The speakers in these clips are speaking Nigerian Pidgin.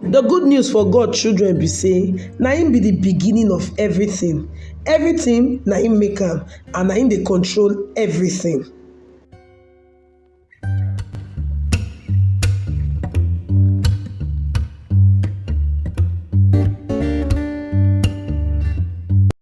The good news for God children be say na him be the beginning of everything, everything na him make am and na him dey control everything.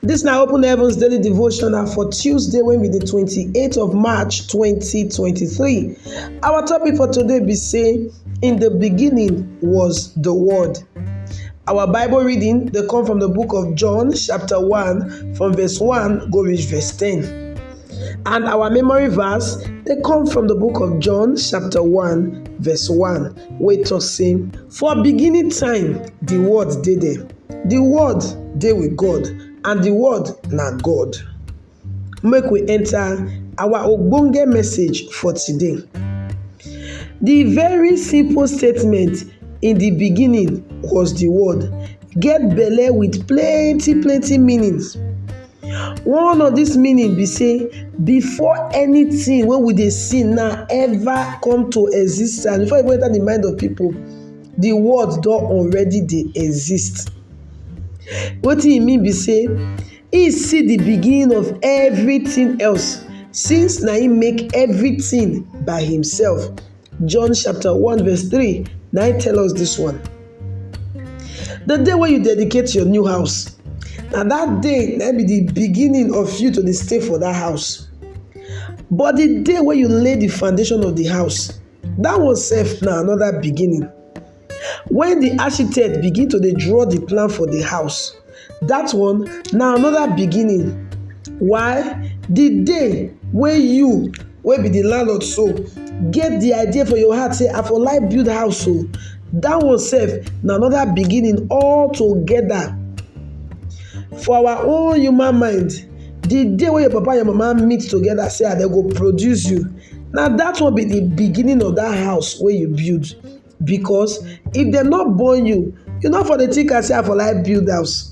Dis na Open Heavens Daily Devotional for Tuesday wey be di 28th of March 2023. Our topic for today be say in the beginning was the word. Our Bible reading dey come from the book of John chapter 1 from verse 1 go reach verse 10. And our memory verse dey come from the book of John chapter 1 verse 1 wey talk say for beginning time the word dey there The word dey with God and the word na God. Make we enter our ogbonge message for today. The very simple statement in the beginning was the word get belle with plenty plenty meanings. One of this meaning be say before anything wey we dey see now ever come to existence, before e even enter the mind of people, di world don already dey exist wetin e mean be sey e see di beginning of everything else since na him make everything by himself John chapter one verse three na him tell us this one the day wey you dedicate your new house na that day na be the beginning of you to dey stay for that house but the day wey you lay the foundation of the house Dat one sef na another beginning. When the architect begin to dey draw the plan for the house, that one na another beginning. Why? The day wey you wey be the landlord so get the idea for your heart say I for like build house o, that one sef na another beginning all together. For our own human mind, the day wey your papa and your mama meet together say I dem go produce you, na dat one be de beginning of dat house wey you build because if dem no born you, you no for dey think am sey I for like build house.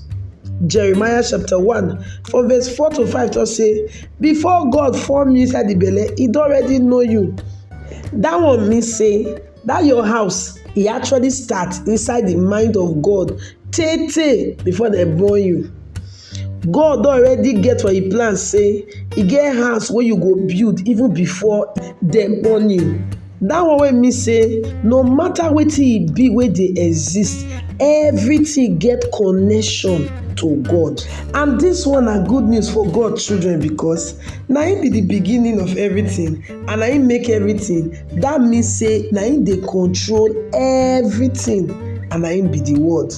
Jeremiah chapter one from verse four to five talk sey before God form you inside de belle, e don already know you. Dat one mean sey That your house, e actually start inside the mind of God tey tey before dem born you. God don already get for im plan say e get house wey you go build even before dem born you. That one wey mean say no matter wetin e be wey dey exist, everything get connection to God. And this one na good news for God children because na im be the beginning of everything and na him make everything that mean say na him dey control everything and na him be the word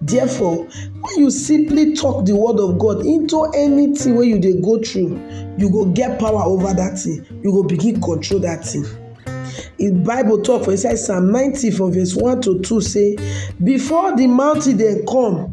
therefore when you simply talk the word of God into anything wey you dey go through you go get power over that thing you go begin control that thing the bible talk for inside psalm 90 from verse 1 to 2 say before the mountain dem come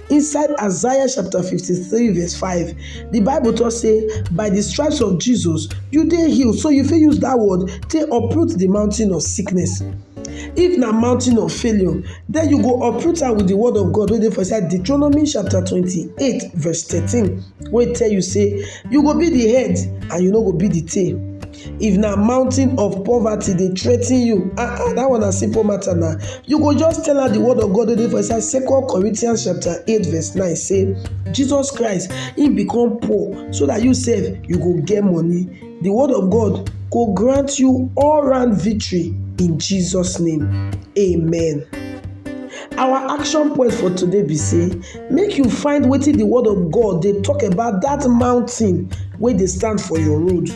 Inside Isaiah chapter 53 verse 5, the Bible talk say, by the stripes of Jesus, you dey healed. So you fit use that word take uproot the mountain of sickness. If na mountain of failure, then you go uproot am with the word of God wey dey for inside Deuteronomy chapter 28 verse 13 wey tell you say, you go be the head and you no go be the tail. if na mountain of poverty dey threaten you ah ah that one na simple matter na you go just tell her the word of God wey dey for inside second Corinthians chapter eight verse nine say Jesus Christ he become poor so that you sef you go get money the word of God go grant you all round victory in Jesus name amen. our action point for today be say make you find wetin the word of god dey talk about that mountain wey dey stand for your road